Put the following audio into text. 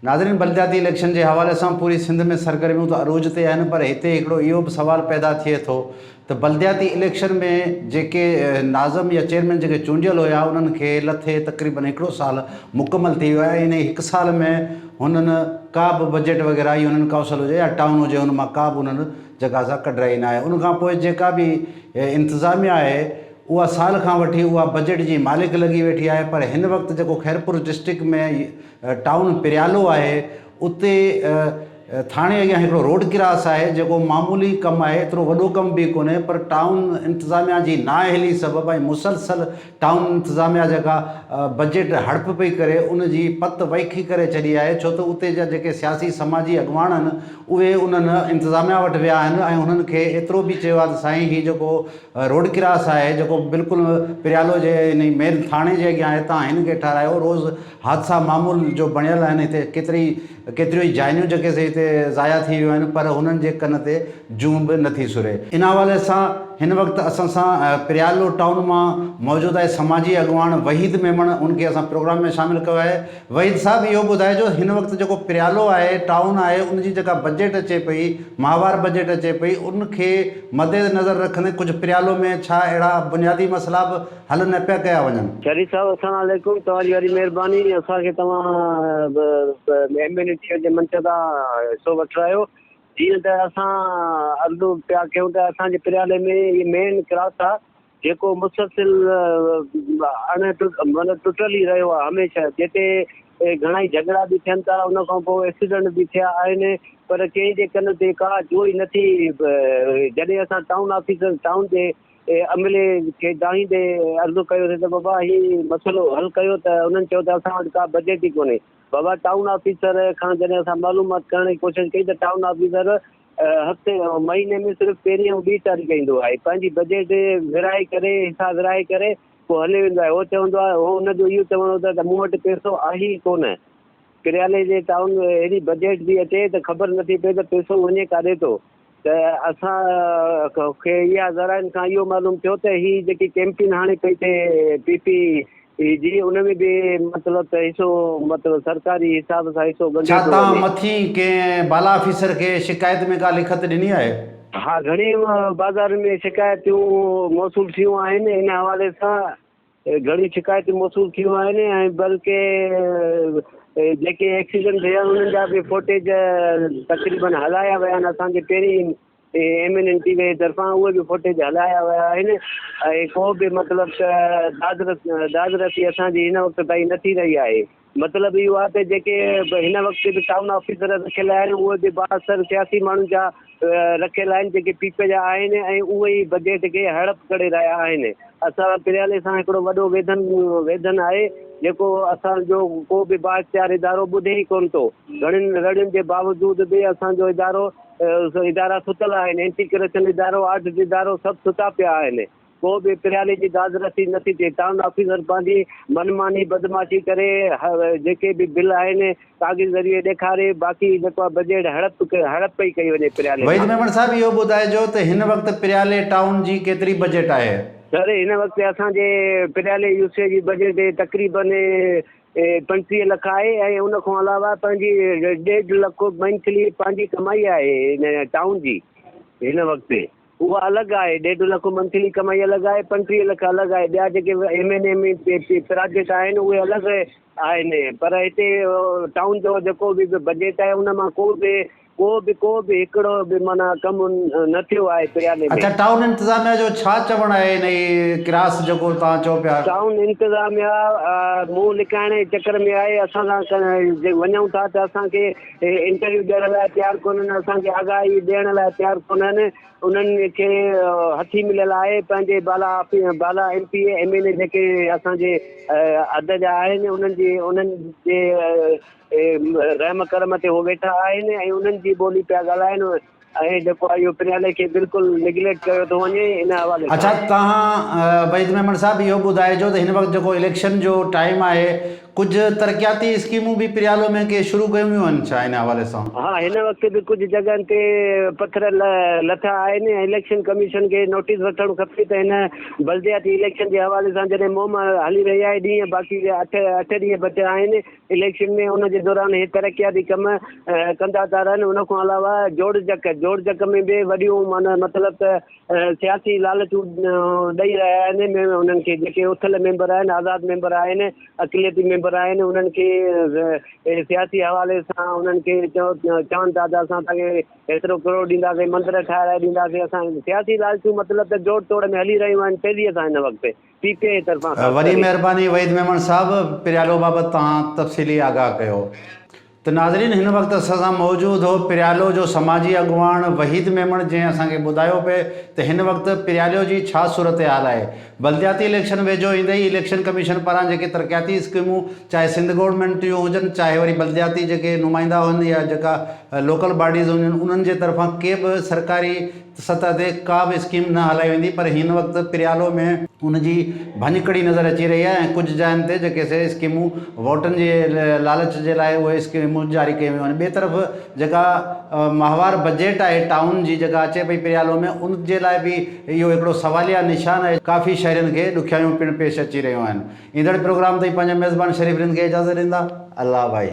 ناظرين بلدياتي اليڪشن جي حوالي سان پوري سنڌ ۾ سرگرميون ته عروج تي آهن پر هتي هڪڙو اهو به سوال پيدا ٿئي ٿو ته بلدياتي اليڪشن ۾ جيڪي ناظم يا چيئرمين جيڪي چونڊيل هيا انهن کي لٿي تقريبن هڪڙو سال مڪمل ٿي ويو آهي انهي هڪ سال ۾ هنن ڪا به بجيٽ وغيره يا هنن ڪائونسل هجي يا ٽائون هجي ان مان ڪا به هنن جگازا ڪڍرائي نه آهي ان کان پوء جيڪا به انتظاميا آهي اها سال کان وٺي اها بجيٽ جي مالڪ لڳي ويٺي آهي پر هن وقت جيڪو خيرپور ڊسٽرڪٽ ۾ ٽائون پريالو آهي اتي ٿاڻي اڳيان هڪڙو روڊ ڪراس آهي جيڪو معمولي ڪم آهي ايترو وڏو ڪم به ڪونهي پر ٽائون انتظاميا جي نااهلي سبب ۽ مسلسل ٽائون انتظاميا جيڪا بجيٽ هڙپ پئي ڪري ان جي پت ويکي ڪري ڇڏي آهي ڇو ته اتي جا جيڪي سياسي سماجي اڳواڻ آهن اهي انهن انتظاميا وٽ ويا آهن ۽ انهن کي ايترو به چيو آهي ته سائين هي جيڪو روڊ ڪراس آهي جيڪو بلڪل پريالو جي مين ٿاڻي جي اڳيان آهي تان هن کي ٺاهرايو روز حادثا معمول جو بڻيل آهن هتي ڪيتري ڪيتريون ئي جانيون جيڪي سي هتي ضايع ٿي ويون آهن پر هنن جي ڪن تي جون به نٿي سري. ان حوالي سان هن وقت اسان سان پريالو ٽائون مان موجود آهي سماجي اڳواڻ وحيد ميمڻ ان کي اسان پروگرام ۾ شامل ڪيو آهي وحيد صاحب اهو ٻڌائجو هن وقت جيڪو پريالو آهي ٽائون آهي ان جي جيڪا بجيٽ اچي پئي ماهوار بجيٽ اچي پئي ان کي مدنظر رکندي ڪجهه پريالو ۾ ڇا اهڙا بنيادي مسئلا به حل نه پيا ڪيا وڃن. شريف صاحب السلام عليڪم توهان جي وڏي مهرباني اسان کي توهان ايم اين اي ٽي جي منتدا حصو وٺرايو جيئن ته اسان عرض پيا ڪيون ته اسان جي پريالي ۾ هي مين ڪراس آ جيڪو مسلسل اڻ مطلب ٽٽل ئي رهيو آ هميشه جتي گهڻائي جهڳڙا به ٿين ٿا ان کان پوء ايڪسيڊنٽ به ٿيا آهن پر ڪنهن جي ڪن تي ڪا جوئي نٿي جڏهن اسان ٽائون آفيسر ٽائون جي عملي کي دانهيندي عرضو ڪيو سين ته بابا هي مسئلو حل ڪيو ته انهن چيو ته اسان وٽ ڪا بجيٽ ئي ڪونهي. بابا ٽائون آفيسر کان جڏهن اسان معلومات ڪرڻ جي ڪوشش ڪئي ته ٽائون آفيسر هفتي مهيني ۾ صرف پهرين ۽ ٻي تاريخ ايندو آهي پنهنجي بجيٽ ورهائي ڪري حصا ورهائي ڪري پوء هلي ويندو آهي هو چوندو آهي هو ان جو اهو چوڻ هوندو آهي ته مون وٽ پيسو آهي ئي ڪونه ڪريالي جي ٽائون اهڙي بجيٽ ٿي اچي ته خبر نٿي پئي ته پيسو وڃي ڪاڏي ٿو. ته اسان کي اها ذرائعن کان اهو معلوم ٿيو ته هي جيڪي ڪيمپين هاڻي پئي ٿئي پي پي اي جي ان ۾ به مطلب ته حصو مطلب سرڪاري حساب سان حصو ڳنڍيو ڇا پيو توهان وڃي. مٿين ڪنهن بالا آفيسر کي شڪايت ۾ ڪا لکت ڏني آهي؟ ها گهڻين بازارن ۾ شڪايتون موصول ٿيون آهن ان حوالي سان. گهڻيون شڪايتون موصول ٿيون آهن ۽ بلڪه جيڪي ايڪسيڊنٽ ٿيا آهن انهن جا به فوٽيج تقريبن هلايا ويا آهن اسان جي پهرين M N N T V طرفان اهي به فوٽيج هلايا ويا آهن ۽ ڪو به مطلب ته داد رسي اسان جي هن وقت تائين نه ٿي رهي آهي مطلب اهو آهي ته جيڪي به هن وقت به ٽائون آفيسر رکيل آهن اهي به بااثر سياسي ماڻهن جا رکيل آهن جيڪي پي پي جا آهن ۽ اهي ئي بجيٽ کي هڙپ ڪري رهيا آهن اسان پريالي سان هڪڙو وڏو ويڌن ويڌن آهي جيڪو اسان جو ڪو به بااختيار ادارو ٻڌي ئي ڪون ٿو گهڻين رڙين جي باوجود به اسان جو ادارو ادارا ستل آهن اينٽي ڪرپشن ادارو آڊٽ ادارو سڀ ستا پيا آهن ڪو به پريالي جي داد رسي نه ٿي ٿئي. ٽائون آفيسر پنهنجي من ماني بدمعاشي ڪري جيڪي به بل آهن ڪاغذ ذريعي ڏيکاري باقي جيڪو آهي بجيٽ هڙپ هڙپ پئي ڪئي وڃي پريالي وحيد کان. ميمڻ صاحب اهو ٻڌائجو ته هن وقت پريالي ٽائون جي ڪيتري بجيٽ آهي؟ سر هن وقت اسان جي پريالي يو سي جي بجيٽ تقريبا پنجٽيهه لک آهي ۽ ان کان علاوه پنهنجي ڏيڍ لک منٿلي پنهنجي ڪمائي آهي هن ٽائون جي هن وقت. اها الڳ آهي، ڏيڍ لک منٿلي ڪمائي الڳ آهي، پنجٽيهه لک الڳ آهي، ٻيا جيڪي M N M A project آهن اهي الڳ آهن، پر هتي ٽائون جو جيڪو به بجيٽ آهي ان مان ڪو به ڪو به ڪو به هڪڙو به معنيٰ ڪم نه ٿيو آهي پريالي ۾. اڇا ٽائون انتظاميا جو ڇا چوڻ آهي انهي ڪراس جيڪو توهان چئو پيا. ٽائون انتظاميا منهن لڪائڻ جي چڪر ۾ آهي، اسان سان وڃون ٿا ته اسان کي هي انٽرويو ڏيڻ لاء تيار ڪونهن، اسان کي آگاهي ڏيڻ لاء تيار ڪونهن، انهن کي هٿي مليل آهي، پنهنجي بالا بالا M P A, M N A جيڪي اسان جي عھد جا آهن انهن جي انهن جي رحم ڪرم تي هو ويٺا آهن ۽ انهن جي ٻولي پيا ڳالهائن، ۽ جيڪو آء يو پريالي کي بلڪل نيگليڪٽ ڪيو ٿو وڃي ان حوالي سان. اڇا توهان وحيد ميمڻ صاحب اهو ٻڌائجو ته هن وقت جيڪو اليڪشن جو ٽائيم آهي ڪجهه ترقياتي اسڪيمون به پريالو ۾ ڪي شروع ڪيون ويون آهن ڇا ان حوالي سان؟ ها هن وقت به ڪجهه جڳهن تي پٿر لٿا آهن ۽ اليڪشن ڪميشن کي نوٽيس وٺڻ کپي ته هن بلدياتي اليڪشن جي حوالي سان جڏهن مهم هلي رهي آهي ڏينهن باقي اٺ اٺ ڏينهن بچيا آهن اليڪشن ۾ ان جي دوران اهي ترقياتي ڪم ڪندا ٿا رهن ان کان علاوه جوڙجڪ جوڙجڪ ۾ به وڏيون معنيٰ مطلب ته سياسي لالچون ڏئي رهيا آهن انهن کي جيڪي اٿل ميمبر آهن آزاد ميمبر آهن اقليتي ميمبر آهن انهن کي سياسي حوالي سان انهن کي چون ٿا ته اسان تان کي هيترو ڪروڙ ڏينداسين مندر ٺاهرائي ڏينداسين اسان سياسي لالچون مطلب ته جوڙ توڙ ۾ هلي رهيون آهن تيزيء سان هن وقت پي ٽي آء طرفان خاص وڏي طرح. مهرباني وحيد ميمڻ صاحب پريالو بابت توهان تفصيلي آگاهه ڪيو ته ناظرين هن وقت اسان سان موجود هو پريالو جو سماجي اڳواڻ وحيد ميمڻ جنهن اسان کي ٻڌايو پئي ته هن وقت پريالو جي ڇا صورتحال آهي بلدياتي اليڪشن ويجهو ايندي ئي اليڪشن ڪميشن پاران جيڪي ترقياتي اسڪيمون چاهي سنڌ گورنمينٽ جون هجن چاهي وري بلدياتي جيڪي نمائندا هن يا جيڪا لوڪل باڊيز هجن انهن جي طرفان ڪي به سرڪاري سطح تي ڪا به اسڪيم نه هلائي ويندي پر هن وقت پريالو ۾ ان جي ڀڃڪڙي نظر اچي رهي آهي ۽ ڪجهه جاين تي جيڪي سي اسڪيمون ووٽن جي لالچ جي لاء اهي اسڪيمون جاري ڪيون ويون آهن ٻي طرف جيڪا ماهوار بجيٽ آهي ٽائون جي جيڪا اچي پئي پريالو ۾ ان جي لاء به اهو هڪڙو سواليه نشان آهي ڪافي شهرين کي ڏکيائيون پڻ پيش اچي رهيون آهن ايندڙ پروگرام تائين پنهنجا ميزبان شريف رند کي اجازت ڏيندا الله ڀائي.